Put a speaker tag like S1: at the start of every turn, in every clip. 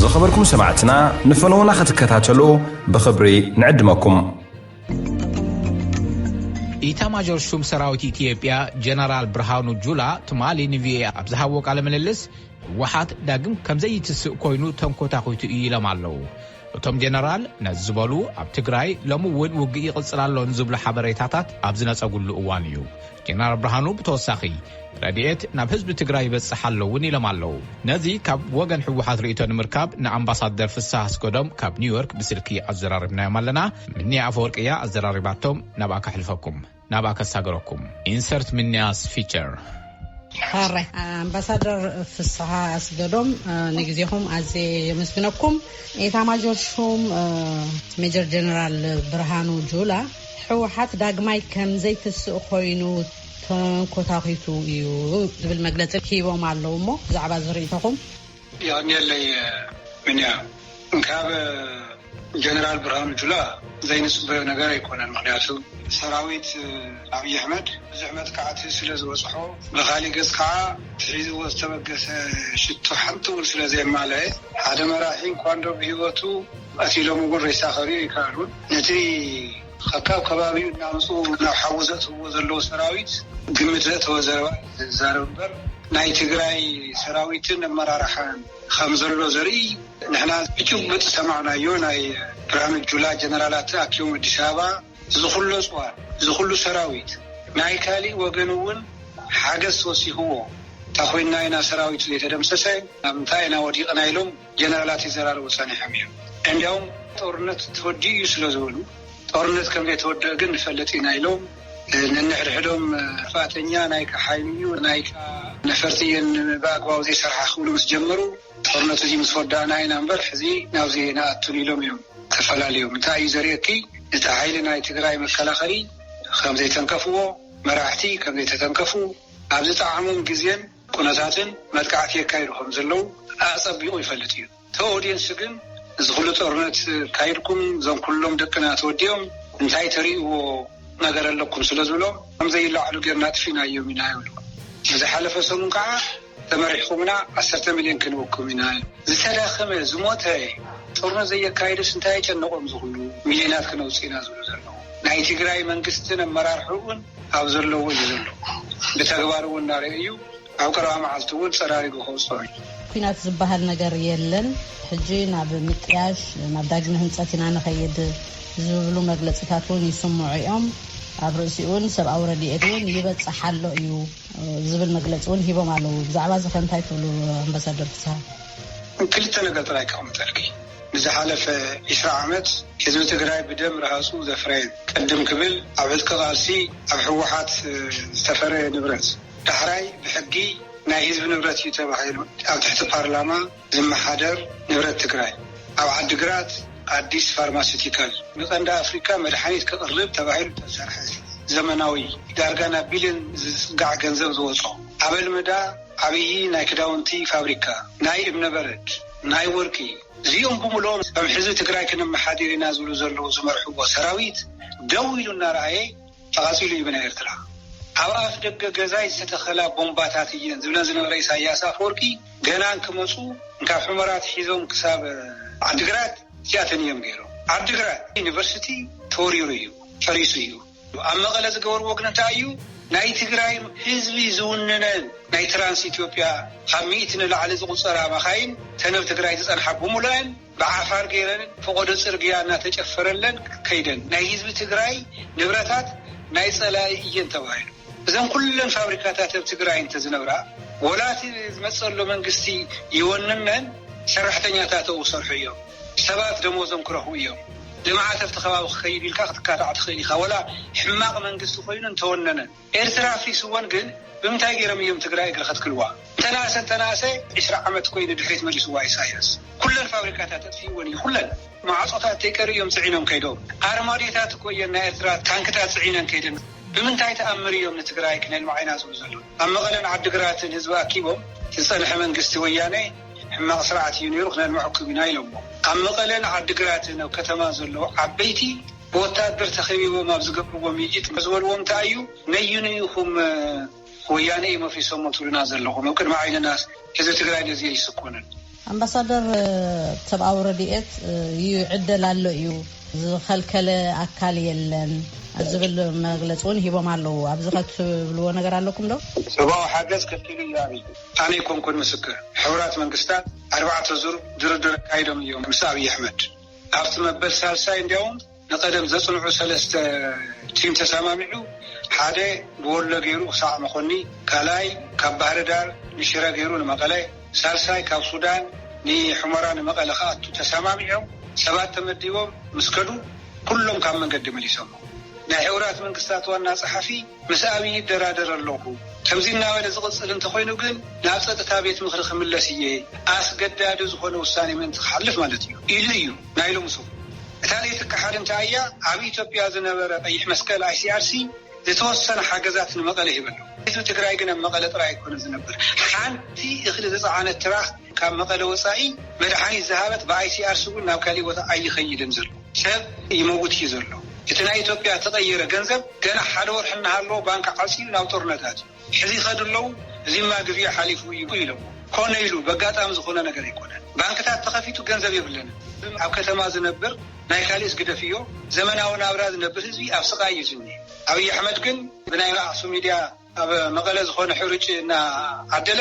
S1: ዝኸበርኩም ሰማዕትና ንፈነዉና ክትከታተሉ ብኽብሪ ንዕድመኩም።
S2: ኢታማዦር ሹም ሰራዊት ኢትዮጵያ ጀነራል ብርሃኑ ጁላ ትማሊ ንቪኦኤ ኣብ ዝሃቦ ቃለ ምልልስ ህወሓት ዳግም ከምዘይትስእ ኮይኑ ተንኮታኺቱ እዩ ኢሎም ኣለው። እቶም ጀነራል ነዚ ዝበሉ ኣብ ትግራይ ሎሚ እውን ውግእ ይቕፅል ኣሎ ንዝብሉ ሓበሬታታት ኣብ ዝነፀጉሉ እዋን እዩ። ጀነራል ብርሃኑ ብተወሳኺ ረድኤት ናብ ህዝቢ ትግራይ ይበፅሕ ኣሎ እውን ኢሎም ኣለው። ነዚ ካብ ወገን ህወሓት ርእይቶ ንምርካብ ንኣምባሳደር ፍስሃ ኣስገዶም ካብ ኒውዮርክ ብስልኪ ኣዘራሪብናዮም ኣለና። ምኒያ ኣፈወርቂ እያ ኣዘራሪባቶም ናብኣ ከሕልፈኩም። ናብኣ ከሳግረኩም ኢንሰርት ምንያስ ፊቸር። ሐራይ
S3: ኣምባሳደር ፍስሃ ኣስገዶም ንግዜኹም ኣዝየ የመስግነኩም። ኤታማዦር ሹም ሜጀር ጀነራል ብርሃኑ ጁላ ህወሓት ዳግማይ ከምዘይትስእ ኮይኑ ተንኮታኺቱ እዩ ዝብል መግለፂ ሂቦም ኣለው እሞ ብዛዕባ እዚ ሪኢቶኹም? የቅንየለይ
S4: ምንያ እንካብ ጀነራል ብርሃኑ ጁላ ዘይንፅበዮ ነገር ኣይኮነን ምክንያቱ ሰራዊት ኣብይ ኣሕመድ ብዙሕ መጥቃዕቲ ስለ ዝበፅሖ ብካሊእ ገፅ ከዓ እቲ ሒዝዎ ዝተበገሰ ሽቶ ሓንቲ እውን ስለ ዘየማለኣ ሓደ መራሒ እንኳንዶ ብሂወቱ ቀቲሎምዎ ሬሳ ከሪኡ ኣይከኣሉን ነቲ ከካብ ከባቢኡ እናምፅኡ ናብ ሓዊ ዘእትውዎ ዘለዉ ሰራዊት ግምት ዘእተወ ዘረባ እዩ ዝዛረብ እምበር ናይ ትግራይ ሰራዊትን ኣመራርሓን ከምዘሎ ዘርኢ ንሕና ብጭቡጥ ዝሰማዕናዮ ናይ ብርሃኑ ጁላ ጀነራላት ተኣኪቦም ኣዲስ ኣበባ ዝኹሉ ኣፅዋር ዝኹሉ ሰራዊት ናይ ካሊእ ወገን እውን ሓገዝ ተወሲኽዎ እንታኾይንና ኢና ሰራዊቱ ዘይተደምሰሰ? ኣብ ምንታይ ኢና ወዲቕና ኢሎም ጀነራላት ይዘራረቡ ጸኒሖም እዮም። እንዲያውም ጦርነት ተወዲኡ እዩ ስለ ዝበሉ፣ ጦርነት ከም ዘይተወደኣ ግን ንፈልጥ ኢና ኢሎም ነንሕድሕዶም ጥፍኣተኛ ናይካ ሓይሊ እዩ፣ ናይካ ነፈርቲ እየን ብኣግባቡ ዘይሰርሓ ክብሉ ምስ ጀመሩ፣ ጦርነት እዚ ምስ ወዳእና ኢና እምበር ሕዚ ናብዚ ኣይንኣቱን ኢሎም እዮም ተፈላልዮም። እንታይ እዩ ዘርእየኪ ነቲ ሓይሊ ናይ ትግራይ መከላኸሊ ከም ዘይተንከፍዎ፣ መራሕቲ ከም ዘይተተንከፉ፣ ኣብ ዝጠዓሞም ግዜን፣ ኩነታትን መጥቃዕቲ የካይዱ ከም ዘለዉ ኣጸቢቑ ይፈልጥ እዩ። እቲ ኦድየንስ ግን እዚ ኩሉ ጦርነት ኣካይድኩም እዞም ኩሎም ደቅና ተወዲኦም እንታይ ተርእይዎ ነገር ኣለኩም ስለ ዝብሎም ከም ዘይለዓሉ ጌርና ኣጥፊእናዮም ኢና ይብሉ። ንዝሓለፈ ሰሙን ከኣ ተመሪሕኩምና ዓሰርተ ሚልዮን ክንህበኩም ኢና ኢሎም። ዝተዳኸመ፣ ዝሞተ፣ ጦርነት ዘየካይዱስ እንታይ ኣጨነቖም እዚ ኩሉ ሚልዮናት ክነውጽእ ኢና ዝብሉ ዘለዉ። ናይ ትግራይ መንግስትን ኣመራርሕኡን ኣብ ዘለዎ እዩ ዘሎ ብተግባር እውን እናረኤዩ ኣብ ቀረባ መዓልቲ እውን ፀራሪጉ ከውፀኦ እዩ። ኩናት ዝበሃል
S3: ነገር የለን ሕጂ ናብ ምጥያሽ ናብ ዳግመ ህንፀት ኢና ንኸይድ ዝብሉ መግለፂታት እውን ይስምዑ እዮም። ኣብ ርእሲኡ እውን ሰብኣዊ ረድኤት እውን ይበፅሕ ኣሎ እዩ ዝብል መግለፂ እውን ሂቦም ኣለው። ብዛዕባ እዚ ከ እንታይ ትብሉ ኣምበሳደር ፍስሃ? ክልተ
S4: ነገር ጥራይ ከቅምጠልኪ። ንዝሓለፈ ዕስራ ዓመት ህዝቢ ትግራይ ብደም ርሃፁ ዘፍረየን ቅድም ክብል ኣብ ዕጥቂ ቃልሲ ኣብ ህወሓት ዝተፈረየ ንብረት ዳሕራይ ብሕጊ ናይ ህዝቢ ንብረት እዩ ተባሂሉ ኣብ ትሕቲ ፓርላማ ዝመሓደር ንብረት ትግራይ ኣብ ዓዲ ግራት ኣዲስ ፋርማሲቲካል ንቀንዲ ኣፍሪካ መድሓኒት ከቅርብ ተባሂሉ ዝተሰርሐ ዘመናዊ ዳርጋ ናብ ቢልዮን ዝፅጋዕ ገንዘብ ዝወፆ ኣበልመዳ ዓብዪ ናይ ክዳውንቲ ፋብሪካ ናይ እምነበረድ ናይ ወርቂ እዚኦም ብምልኦም ከም ሕዚ ትግራይ ክነመሓዲር ኢና ዝብሉ ዘለዉ ዝመርሕዎ ሰራዊት ደው ኢሉ እናረኣየ ተቓፂሉ እዩ ብናይ ኤርትራ ኣብ ኣፍ ደገ ገዛይ ዝተተኸላ ቦምባታት እየን ዝብለን ዝነበረ ኢሳያስ ኣፈወርቂ ገና እንክመፁ እንካብ ሑመራ ኣትሒዞም ክሳብ ዓዲግራት እቲኣተን እዮም ገይሮም ዓዲግራት ዩኒቨርሲቲ ተወሪሩ እዩ ፈሪሱ እዩ። ኣብ መቐለ ዝገበርዎ ግን እንታይ እዩ ናይ ትግራይ ህዝቢ ዝውንነን ናይ ትራንስ ኢትዮጵያ ካብ ሚእቲ ንላዕሊ ዝቑፀራ መኻይን ተንብ ትግራይ ዝፀንሓ ብምሉኣን ብዓፋር ገይረን ፈቖዶ ፅርግያ እናተጨፈረለን ከይደን ናይ ህዝቢ ትግራይ ንብረታት ናይ ፀላኢ እየን ተባሂሉ እዘን ኩለን ፋብሪካታት ኣብ ትግራይ እንተዝነብራ ወላ እቲ ዝመፀሎ መንግስቲ ይወንነን ሰራሕተኛታተኡ ክሰርሑ እዮም። ሰባት ደሞዞም ክረኽቡ እዮም። ልምዓት ኣብቲ ከባቢ ክኸይድ ኢልካ ክትካታዕ ትኽእል ኢኻ ወላ ሕማቕ መንግስቲ ኮይኑ እንተወነነ። ኤርትራ ኣፍሪስወን ግን ብምንታይ ጌሮም እዮም ትግራይ እግሪ ከትክልዋ? እንተነኣሰ እንተነኣሰ ዕስራ ዓመት እኮ እዩ ንድሕሪት መሊስዋ ኢሳያስ። ኩለን ፋብሪካታት ኣጥፊእወን እዩ ኩለን። ማዕጾታት ተይቀርዩ እዮም ጽዒኖም ከይዶም። ኣርማድዮታት እኮ እየን ናይ ኤርትራ ታንክታት ጽዒነን ከይደን። ብምንታይ ተኣምር እዮም ንትግራይ ክነልምዓ ኢና ዝብሉ ዘለዉ? ኣብ መቐለን ዓዲግራትን ህዝቢ ኣኪቦም ዝፀንሐ መንግስቲ ወያነ ሕማቕ ስርዓት እዩ ነይሩ ክነልመዐኩም ኢና ኢሎሞ። ኣብ መቐለን ዓዲግራትን ኣብ ከተማ ዘለዉ ዓበይቲ ብወታደር ተኸቢቦም ኣብ ዝገብርዎ ምይይጥ እንታይ ዝበልዎም እንታይ እዩ? ነዩኑ ኢኹም ወያነ እዩ መፍሪሶሞ ትብሉና ዘለኹም? ኣብ ቅድሚ ዓይንናስ ህዝቢ ትግራይ ነዚ ኣይስኮንን።
S3: ኣምባሳደር ሰብኣዊ ረድኤት ይዕደል ኣሎ እዩ ዝኸልከለ ኣካል የለን ዝብል መግለፂ እውን ሂቦም ኣለዉ ኣብዚ ከትብልዎ ነገር ኣለኩም ዶ? ሰብኣዊ ሓገዝ
S4: ከልኪሉ እዩ ኣብይ ኣነ ኣይኮንኩን ምስክር ሕቡራት መንግስታት ኣርባዕተ ዙር ድርድር ኣካይዶም እዮም ምስ ኣብይ ኣሕመድ ኣብቲ መበል ሳልሳይ እንዲያውም ንቀደም ዘጽንዑ ሰለስተ ቲም ተሳማሚዑ ሓደ ብወሎ ገይሩ ክሳዕ መኾኒ ካልኣይ ካብ ባህርዳር ንሽረ ገይሩ ንመቐለ ሳልሳይ ካብ ሱዳን ንሑመራ ንመቐለ ክኣቱ ተሳማሚዖም ሰባት ተመዲቦም ምስ ከዱ ኩሎም ካብ መንገዲ መሊሶሞም ናይ ሕቡራት መንግስታት ዋና ጸሓፊ ምስ ኣብዪ ይደራደር ኣለኹ ከምዚ እናበለ ዝቕጽል እንተኾይኑ ግን ናብ ጸጥታ ቤት ምኽሪ ክምለስ እየ ኣስገዳዲ ዝኾነ ውሳኔ ምእንቲ ክሓልፍ ማለት እዩ ኢሉ እዩ ናይ ሎሚ ሰሙን እታ ለይቲ ክሓድንታ ኣያ ኣብ ኢትዮጵያ ዝነበረ ቀይሕ መስቀል ICRC ዝተወሰነ ሓገዛት ንመቐለ ሂበሎ። ህዝቢ ትግራይ ግን ኣብ መቐለ ጥራይ ኣይኮነን ዝነብር። ሓንቲ እኽሊ ዝጸዓነት ትራክ ካብ መቐለ ወጻኢ መድሓኒት ዝሃበት ብኣይሲኣርሲ እውን ናብ ካሊእ ቦታ ኣይኸይድን ዘሎ። ሰብ ይመውት እዩ ዘሎ። እቲ ናይ ኢትዮጵያ እተቐየረ ገንዘብ ገና ሓደ ወርሒ እናሃለዎ ባንክ ዓጽዩ ናብ ጦርነት ኣትዩ። ሕዚ ይኸዱ ኣለዉ፣ እዚማ ግዚኡ ሓሊፉ እዩ ኢሎም። ኮነ ኢሉ በጋጣሚ ዝኾነ ነገር ኣይኮነን። ባንክታት ተኸፊቱ ገንዘብ የብለንን። ኣብ ከተማ ዝነብር ናይ ካሊእስ ግደፍዮ ዘመናዊ ናብራ ዝነብር ህዝቢ ኣብ ስቓይ እዩ ዝኒሀ። ኣብይ ኣሕመድ ግን ብናይ ኣክሱም ሚድያ ኣብ መቐለ ዝኾነ ሕሩጭ እናዓደለ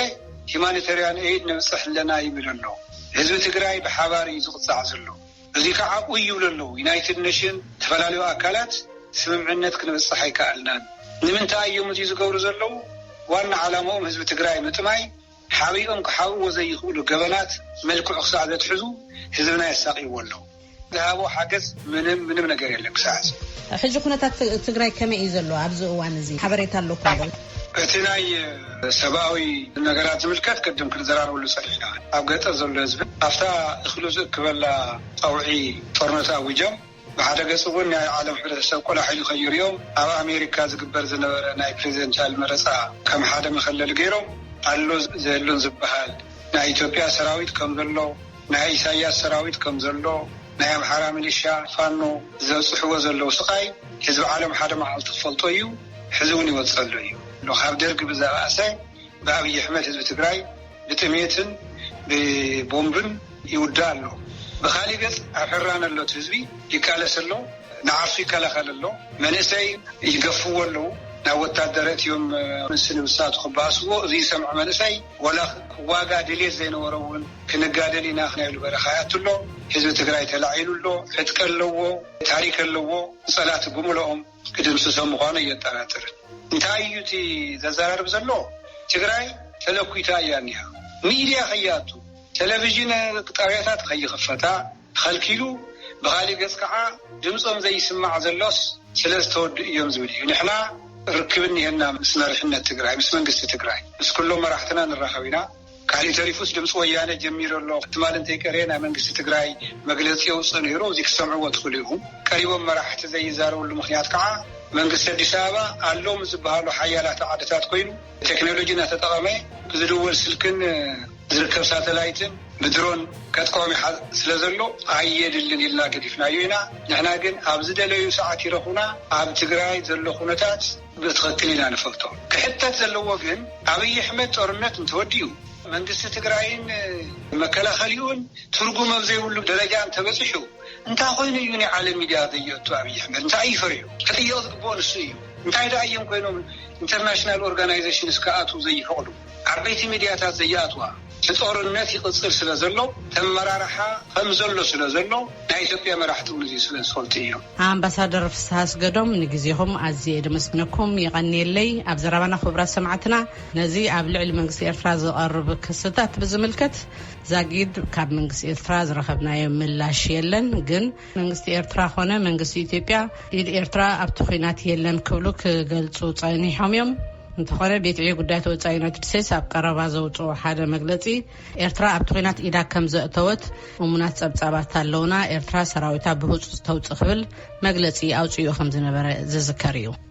S4: ሂማኒተርያን ኤይድ ነብፅሕ ኣለና ይብል ኣሎ። ህዝቢ ትግራይ ብሓባር እዩ ዝቕፃዕ ዘሎ። እዚ ከዓ ኡይ ይብሉ ኣለው ዩናይትድ ነሽን ዝተፈላለዩ ኣካላት ስምምዕነት ክንበፅሕ ኣይከኣልናን ንምንታይ እዮም እዙይ ዝገብሩ ዘለው ዋና ዓላምኦም ህዝቢ ትግራይ ምጥማይ ሓቢኦም ክሓብእዎ ዘይኽእሉ ገበናት መልክዑ ክሳዕ ዘትሕዙ ህዝብና የሳቅይዎ ኣለው። ዝሃቦ ሓገዝ ምንም ምንም ነገር የለን ክሳዕ ሕዚ። ሕጂ ኩነታት
S3: ትግራይ ከመይ እዩ ዘሎ ኣብዚ እዋን እዚ ሓበሬታ ኣለኩም ዶ? እቲ ናይ
S4: ሰብኣዊ ነገራት ዝምልከት ቅድም ክንዘራረበሉ ጸኒሕና። ኣብ ገጠር ዘሎ ህዝቢ ኣብታ እኽሉ ዝእክበላ ጸውዒ ጦርነት ኣዊጆም፣ ብሓደ ገጽ እውን ናይ ዓለም ሕብረተሰብ ቆላሕ ኢሉ ከይርእዮም ኣብ ኣሜሪካ ዝግበር ዝነበረ ናይ ፕረዚደንትያል መረጻ ከም ሓደ መኸለሊ ገይሮም ኣሎ ዘየሎን ዝበሃል ናይ ኢትዮጵያ ሰራዊት ከም ዘሎ ናይ ኢሳይያስ ሰራዊት ከም ዘሎ ናይ ኣምሓራ ሚሊሻ ፋኖ ዘብጽሕዎ ዘለዉ ስቓይ ህዝቢ ዓለም ሓደ መዓልቲ ክፈልጦ እዩ። ሕዚ እውን ይወፀሉ እዩ እሞ ካብ ደርጊ ብዘበኣሰ ብኣብይ ኣሕመድ ህዝቢ ትግራይ ብጥሜትን ብቦምብን ይውዳእ ኣሎ ብካሊእ ገፅ ኣብ ሕራነ ዘሎ እቲ ህዝቢ ይቃለስ ኣሎ ንዓርሱ ይከላኸል ኣሎ መንእሰይ ይገፍዎ ኣለው ናብ ወታደር ኣእትዮም ንስ ንብሳቱ ክበኣስዎ እዙይ ዝሰምዐ መንእሰይ ወላ ክዋጋእ ድልየት ዘይነበሮ እውን ክንጋደል ኢና ክናይ ኢሉ በረኻ ይኣቱ ኣሎ ህዝቢ ትግራይ ተላዒሉ ኣሎ ዕጥቂ ኣለዎ ታሪክ ኣለዎ ፀላእቲ ብምልኦም ክድምስሶ ምኳኑ ኣየጠራጥርን እንታይ እዩ እቲ ዘዘራርብ ዘሎ ትግራይ ተለኲታ እያ እኒሃ ሚድያ ከይኣቱ ተለቪዥን ጣብያታት ከይኽፈታ ተኸልኪሉ ብኻሊእ ገፅ ከዓ ድምፆም ዘይስማዕ ዘሎስ ስለዝተወድኡ እዮም ዝብል እዩ ንሕና ርክብ እኒሀና ምስ መሪሕነት ትግራይ ምስ መንግስቲ ትግራይ ምስ ኩሎም መራሕትና ንራኸብ ኢና ካሊእ ተሪፉስ ድምፂ ወያነ ጀሚሩ ኣሎ ትማሊ እንተይቀረየ ናይ መንግስቲ ትግራይ መግለፂ የውፅእ ነይሩ እዙይ ክትሰምዕዎ ትኽእሉ ኢኹም ቀሪቦም መራሕቲ ዘይዛረብሉ ምኽንያት ከዓ መንግስቲ ኣዲስ ኣበባ ኣለው ምስ ዝበሃሉ ሓያላት ዓድታት ኮይኑ ቴክኖሎጂ እናተጠቐመ ብዝድወል ስልክን ዝርከብ ሳተላይትን ብድሮን ከጥቅዖም ይሓዝ ስለዘሎ ኣየድልን ኢልና ገዲፍናዮ ኢና ንሕና ግን ኣብ ዝደለዩ ሰዓት ይረኹና ኣብ ትግራይ ዘሎ ኩነታት ብትኽክል ኢና ንፈልጦ ክሕተት ዘለዎ ግን ኣብይ ኣሕመድ ጦርነት እንተወዲኡ መንግስቲ ትግራይን መከላኸሊኡን ትርጉም ኣብ ዘይብሉ ደረጃ እንተበፂሑ እንታይ ኾይኑ እዩ ናይ ዓለም ሚድያ ዘየእቱ ኣብይ ኣሕመድ እንታይ እዩ ፈሪሑ ክጥየቕ ዝግበኦ ንሱ እዩ እንታይ ድኣ እዬም ኮይኖም ኢንተርናሽናል ኦርጋናይዘሽንስ ክኣትው ዘይፈቕዱ ዓበይቲ ሚድያታት ዘይኣትዋ እቲ ጦርነት ይቅፅል ስለ ዘሎ ተመራርሓ ከምዘሎ ስለ ዘሎ ናይ ኢትዮጵያ መራሕቲ እውን እዙይ ስለ ዝፈልጡ እዮም። ኣምባሳደር ፍስሃ
S3: ኣስገዶም ንግዜኹም ኣዝየ ደመስግነኩም የቀንየለይ ኣብ ዘረባና ክቡራት ሰማዕትና ነዚ ኣብ ልዕሊ መንግስቲ ኤርትራ ዝቀርብ ክስታት ብዝምልከት ዛጊድ ካብ መንግስቲ ኤርትራ ዝረኸብናዮ ምላሽ የለን ግን መንግስቲ ኤርትራ ኮነ መንግስቲ ኢትዮጵያ ኢድ ኤርትራ ኣብቲ ኩናት የለን ክብሉ ክገልጹ ጸኒሖም እዮም። እንተኾነ ቤት ዕዮ ጉዳያት ወፃኢ ዩናይትድ ስቴትስ ኣብ ቀረባ ዘውፅኦ ሓደ መግለፂ ኤርትራ ኣብቲ ኩናት ኢዳ ከም ዘእተወት እሙናት ፀብፃባት ኣለውና ኤርትራ ሰራዊታ ብህፁፅ ተውፅእ ክብል መግለፂ ኣውፅኡ ከም ዝነበረ ዝዝከር እዩ።